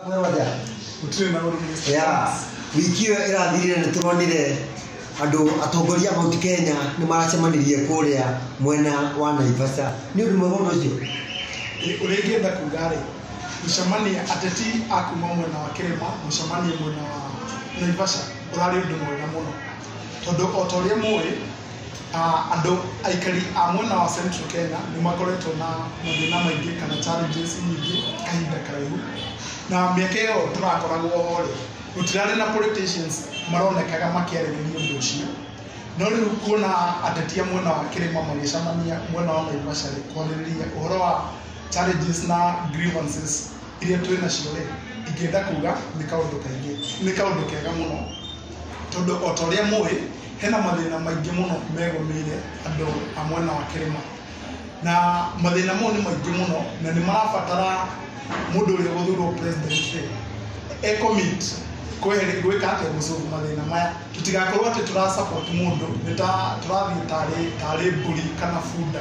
Mweroja. Gũtirĩ na ũrũmwe. Yeah. wiki ĩyo ĩrathirire nĩ tũronire andũ atongoria a Mount Kenya nĩ maracemanirie kũrĩa mwena wa Naivasha nĩ ũndũ mwega ũndũ ũcio Ĩ- Ũrĩa ingĩenda kuga rĩ, gũcemania ateti a kuma mwena wa kĩrĩma, gũcemania mwena wa Naivasha, ũrarĩ ũndũ mwega mũno. Tondũ o ta ũrĩa mũĩ, Andũ aikari a mwena wa Central Kenya nĩ makoretwo na mathĩna maingĩ kana challenges nyingĩ kahinda karaihu. Na mĩaka ĩyo tũrakoragwo ho rĩ, gũtirarĩ na politicians maronekaga makĩarĩrĩria ũndũ ũcio. No rĩu kuona ateti a mwena wa kĩrĩma magĩcemania mwena wa Naivasha rĩ, kwarĩrĩria ũhoro wa challenges na grievances iria twĩ nacio rĩ, ingĩenda kuga nĩ kaũndũ kega mũno. Tondũ o ta ũrĩa mũĩ... hena mathĩna maingĩ mũno megũmĩire andũ a mwena wa kĩrĩma na mathĩna mau nĩ maingĩ mũno na nĩ marabatara mũndũ ũrĩa gũthurwo president e commit kwehere- gwĩka atĩa gũcũgũ mathĩna maya tũtigakorwo atĩ tũra support mũndũ nĩ ta tũrathiĩ tarĩ tarĩ mbũri kana bunda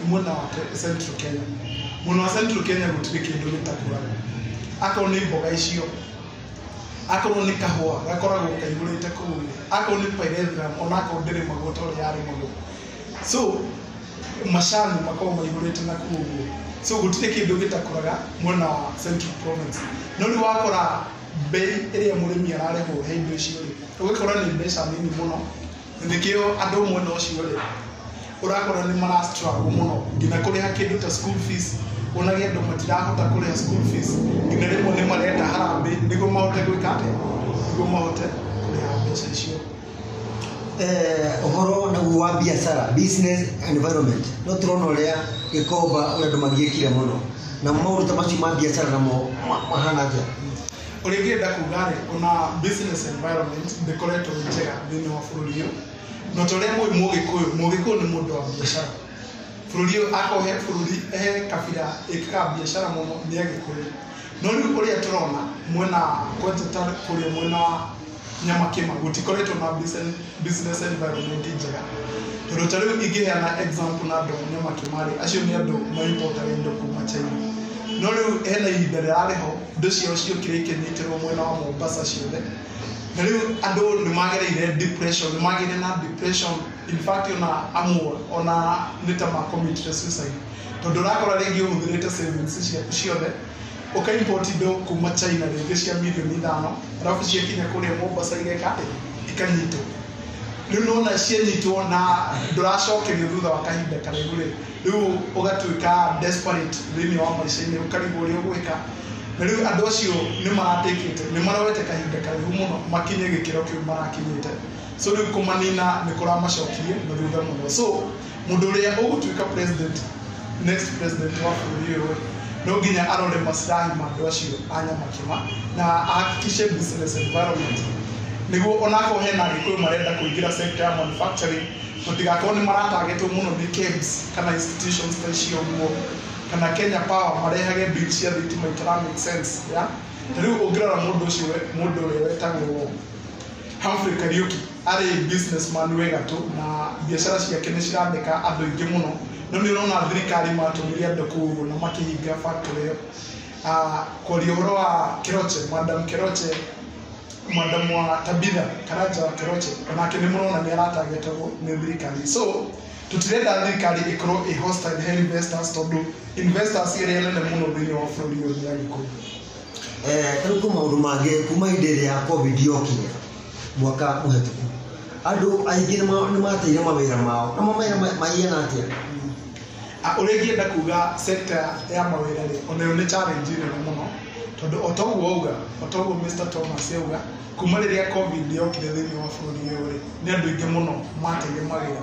nĩ mwena wa Ke- central kenya mwena wa central kenya gũtirĩ kĩndũ gĩtakũraga akorwo nĩ mboga icio akorwo nĩ kahũa gakoragwo kaihũrĩte kũu akorwo nĩ pyrethrum ona akorwo ndĩrĩ maguo ta ũrĩa yarĩ maguo so macani makoragwo maihũrĩte na kũu ũguo so gũtirĩ kĩndũ gĩtakũraga mwena wa central province no rĩu wakora mbei ĩrĩa mũrĩmi ararĩhwo he indo icio rĩ ũgakora nĩ mbeca nini mũno nĩkĩo andũ mwena ũcio rĩ ũrakora nĩ mara struggle mũno nginya kũrĩha kĩndũ ta school fees ũnage andũ matirahota kũrĩha school fees nginya rĩmwe nĩ marenda harambĩ nĩguo mahote gwĩka atĩ nĩguo mahote kũrĩha mbeca icio eh, ũhoro naguo wa biacara business environment no tũrona ũrĩa gĩkomba ũrĩa andũ magĩkire mũno na maũndũ ta macio ma biacara namo ma- mahana atĩa ũrĩa ingĩenda kuga rĩ ona business environment ndĩkoretwo ĩ njega thĩinĩ wa bũrũri ũyũ na ta ũrĩa mũĩ mũgĩkũyũ mũgĩkũyũ nĩ mũndũ wa biacara bũrũri ũyũ akorwo he bũrũri he kabira ĩkaga biacara mũno nĩ agĩkũyũ no rĩu ũrĩa tũrona mwena kwanja ta kũrĩa mwena wa na makĩma gũtikoretwo na business- business environment njega tondũ ta rĩu ingĩheana example na andũ a nyama kĩmarĩ acio nĩ andũ maimportaga indo kuma china no rĩu hena ihinda rĩrarĩ ho indo ciao ciokire ikĩnyitĩrwo mwena wa mombasa ciothe na rĩu andũ nĩ magereire depression nĩ magĩire na depression in fact ona amwe ona nĩ ta ma committed suicide tondũ ũrakora rĩngĩ ũhũthĩrĩte savings ciaku ciothe ũkaimport indo kuma China rĩngĩ cia mirioni ithano arabu ciakinya kũrĩa Mombasa igeka atĩ ikanyitwo rĩu nona cianyitwo na ndũracokerio thutha wa kahinda karaihu rĩ rĩu ũgatuĩka desperate thĩinĩ wa maica-inĩ ũkarigwo ũrĩa ũgwĩka na rĩu andũ acio nĩ maratĩkĩte nĩ maroete kahinda karaihu mũno makinye gĩkĩro kĩu marakinyĩte so rĩu kũmanina nĩ kũramacokirie na thutha mũno so Mũndũ ũrĩa ũgũtuĩka president, next president wa bũrũri ũyũ rĩ, no nginya arore maslahi ma andũ acio a Nyamakima na ahakikishe business environment nĩguo onakorwo hena Agĩkũyũ marenda kũingĩra sector ya manufacturing matigakorwo nĩ maratargetwo mũno nĩ KEBS kana institutions ta icio ũguo kana Kenya Power marehage bill cia thitima itara make sense ya ta rĩu ũngĩrora mũndũ ũcio we- mũndũ ũrĩa wetagwo Humphrey Kariuki arĩ businessman wĩ gatũ na biacara ciake nĩ ciratheka andũ aingĩ mũno no nĩ ũrona thirikari matũmire andũ kũu ũguo na makĩhinga factory ĩyo Ah, kwaria ũhoro wa Keroche madam Keroche madam wa Tabitha Karanja wa Keroche onake nĩ mũrona nĩ aratargetagwo nĩ thirikari so tũtirenda thirikari ĩkorwo ĩ hostile he investors tondũ investors ĩrĩa nene mũno thĩinĩ wa bũrũri ũyũ nĩ Agĩkũyũ eh, rĩu kwĩ maũndũ mangĩ kuma hĩndĩ ĩrĩa covid yokire mwaka mũhetũku andũ aingĩ nĩ ma- nĩ mateire mawĩra mao na mawĩra ma- mahiana atĩa Ah, ũrĩa ingĩenda kuga sector ya mawĩra rĩ onayo nĩ challenge nene mũno tondũ o ta ũguo auga o ta ũguo Mr Thomas auga kuma rĩrĩa covid yokire thĩinĩ wa bũrũri ũyũ rĩ nĩ andũ aingĩ mũno mateire mawĩra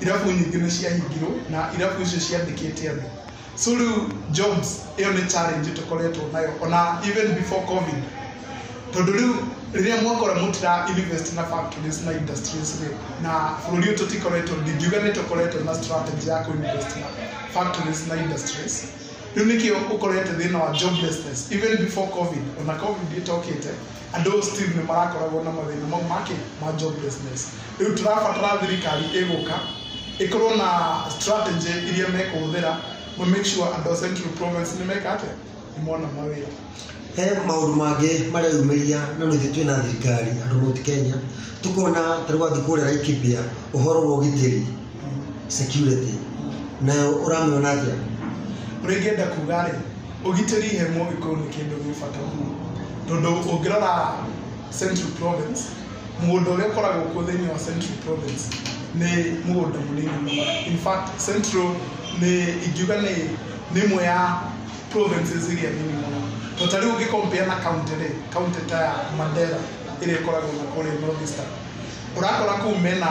irabu nyingĩ nĩ ciahingirwo na irabu icio ciandĩkĩte andũ so rĩu jobs ĩyo nĩ challenge tũkoretwo nayo ona even before covid tondũ rĩu rĩrĩa mwakora mũtira invest na factories na industries rĩ na bũrũri ũyũ tũtikoretwo ndingiuga nĩ tũkoretwo na strategy ya kũinvest na factories na industries rĩu nĩkĩo ũkorete thĩna wa joblessness even before covid ona covid ĩtokĩte andå still nä marakoragwo na mathĩna mau make ma joblessness rä u tũrabatara thirikari ĩgũka ĩkorwo na strategy iria mekũhũthĩra ma make sure andå a central province nĩ meka atĩa nĩ mona mawĩra he maũndũ mangĩ mareyumĩria na nithe twĩ na thirikari andũ mũti kenya tũkona tarĩu wathiĩ kũrĩa laikibia ũhoro wa ũgitĩri security nayo ũramĩona atĩa ũrĩa ingĩenda kuga rĩ ũgitĩri he mũgĩkũyũ nĩ kĩndũ gĩ bata mũno tondũ ũngĩrora central province mũgũnda ũrĩa ũkoragwo kuo thĩinĩ wa central province nĩ mũgũnda mũnini mũno in fact central nĩ ingiuga nĩ nĩ ĩmwe ya provinces iria nini mũno to ta rĩu ũngĩkompea na county rĩ county ta ya mandera ĩrĩa ĩkoragwo na kũrĩa north eastern ũrakora kũu mena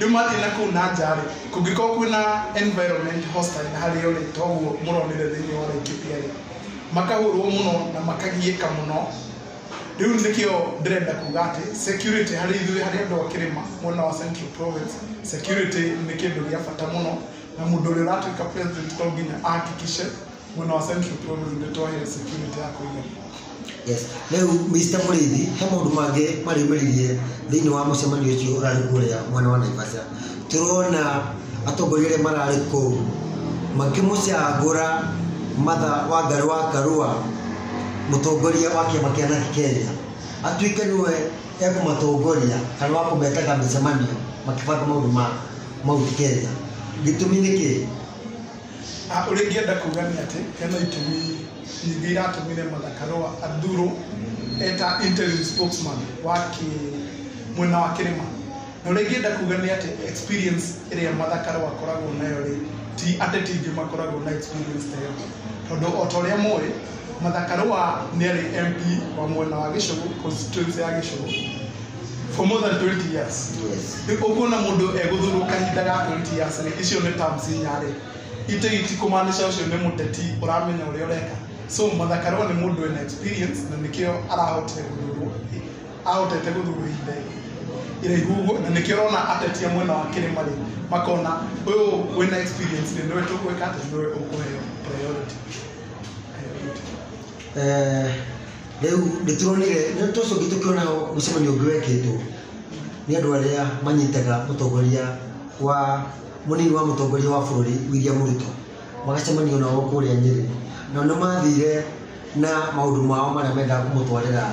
rĩu mathiĩ na kũu na nja rĩ kũngĩkorwo kwĩna environment hostile harĩ o rĩ toguo mũronire thĩinĩ wa Laikipia rĩ makahũrwo mũno na makagiĩka mũno rĩu nĩkĩo ndĩrenda kuga atĩ security harĩ ithuĩ harĩ andũ a kĩrĩma mwena wa Central Province security nĩ kĩndũ gĩa bata mũno na mũndũ ũrĩa ũratuĩka president to nginya ahakikishe mwena wa Central Province nĩ twaheo security ya kũigana Yes. Rĩu Mr. Mũrĩithi he maũndũ mangĩ marĩmĩririe thĩinĩ wa mũcemanio ũcio ũrarĩ kũrĩa mwena wa Naivasha. Tũrona atongoria arĩa mararĩ kũu makĩmũcagũra Martha Wangari wa Karua mũtongoria wa kĩama kĩa Naki Kenya atuĩke nĩwe ekũmatongoria kana wa kũmetaga mĩcemanio makĩbanga maũndũ ma Mount Kenya. Gĩtũmi nĩ kĩĩ? Ah, ũrĩa ingĩenda kuga nĩ atĩ hena itumi Ningĩ iratũmire Martha Karũa athurwo eta interim spokesman wa kĩ mwena wa kĩrĩma na ũrĩa ingĩenda kuga nĩ atĩ experience ĩrĩa Martha Karũa akoragwo nayo rĩ ti ateti aingĩ makoragwo na experience ta ĩyo tondũ o ta ũrĩa mũĩ Martha Karũa nĩ arĩ MP wa mwena wa Gĩcũgũ constituency ya Gĩcũgũ for more than 20 years rĩu ũguo na mũndũ egũthurwo kahinda ga 20 years rĩ icio nĩ terms inya rĩ itũ iti kumaanisha ũcio nĩ mũteti ũramenya ũrĩa ũreka so mathakarwo nĩ mũndũ ena experience na nĩkĩo arahotire gũthurwo ahotete gũthurwo ihinda iraihu ũguo na nĩkĩo ũrona atetia mwena wa kĩrĩma rĩ makona ũyũ wĩna experience rĩ nĩwe tũkwĩka atĩ nĩwe ũkũheo priority Eh, rĩu nĩtũronire nĩtũcoki tũkĩona mũcemanio ũngĩ wekĩtwo nĩ andũ arĩa manyitaga mũtongoria wa Mũnini wa mũtongoria wa bũrũri William Ruto magacemania nao kũrĩa Nyĩrĩ, nao nĩ mathire na maũndũ mao marĩa mendaga kũmũtwarĩra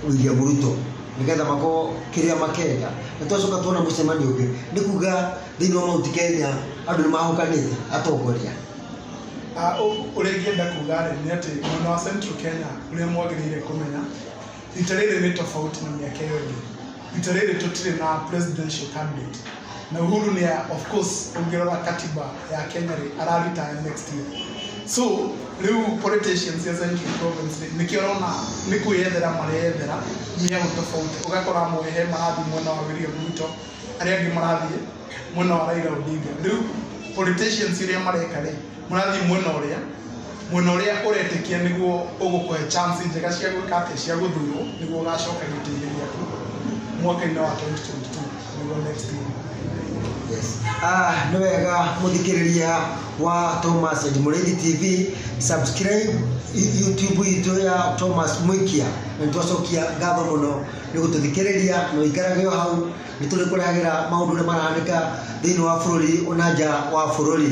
William Ruto nĩgetha makorwo kĩrĩa makenda. Nĩ twacoka tuona mũcemanio ũngĩ, nĩ kuga thĩinĩ wa Mount Kenya andũ nĩ mahokanĩte atongoria. Ũrĩa ingĩenda kuga rĩ, nĩ atĩ mwena wa Central Kenya ũrĩa mwagĩrĩire kũmenya, rita rĩrĩ nĩ tofauti na mĩaka ĩyo ĩngĩ rita rĩrĩ tũtirĩ na presidential candidate na uhuru nĩ ya- of course ũngĩrora katiba ya kenya rĩ araritaya next year so rĩu politicians ya central province rĩ, nĩkĩo ũrona nĩ kwĩyethera mareyethera mĩaũ tofauti ũgakora amwe he marathiĩ mwena wa william ruto arĩa angĩ marathiĩ mwena wa Raila Odinga rĩu politicians iria mareka rĩ mũrathiĩ mwena ũrĩa mwena ũrĩa ũretĩkia nĩguo ũgũkũhe chance njega cia gwĩka atĩ cia gũthurwo nĩguo ũgacoka gĩtĩ-inĩ gĩaku mwaka-inĩ wa 2022 nĩguo next year Ah, nĩ wega mũthikĩrĩria wa Thomas and Mũrĩithi TV subscribe i- YouTube itũ ya Thomas Mwikia na nĩ twacokia ngatho mũno nĩ gũtũthikĩrĩria na ũikarage o hau nĩ tũrĩ kũragĩra maũndũ ũrĩa marahanĩka thĩinĩ wa bũrũri ona nja wa bũrũri.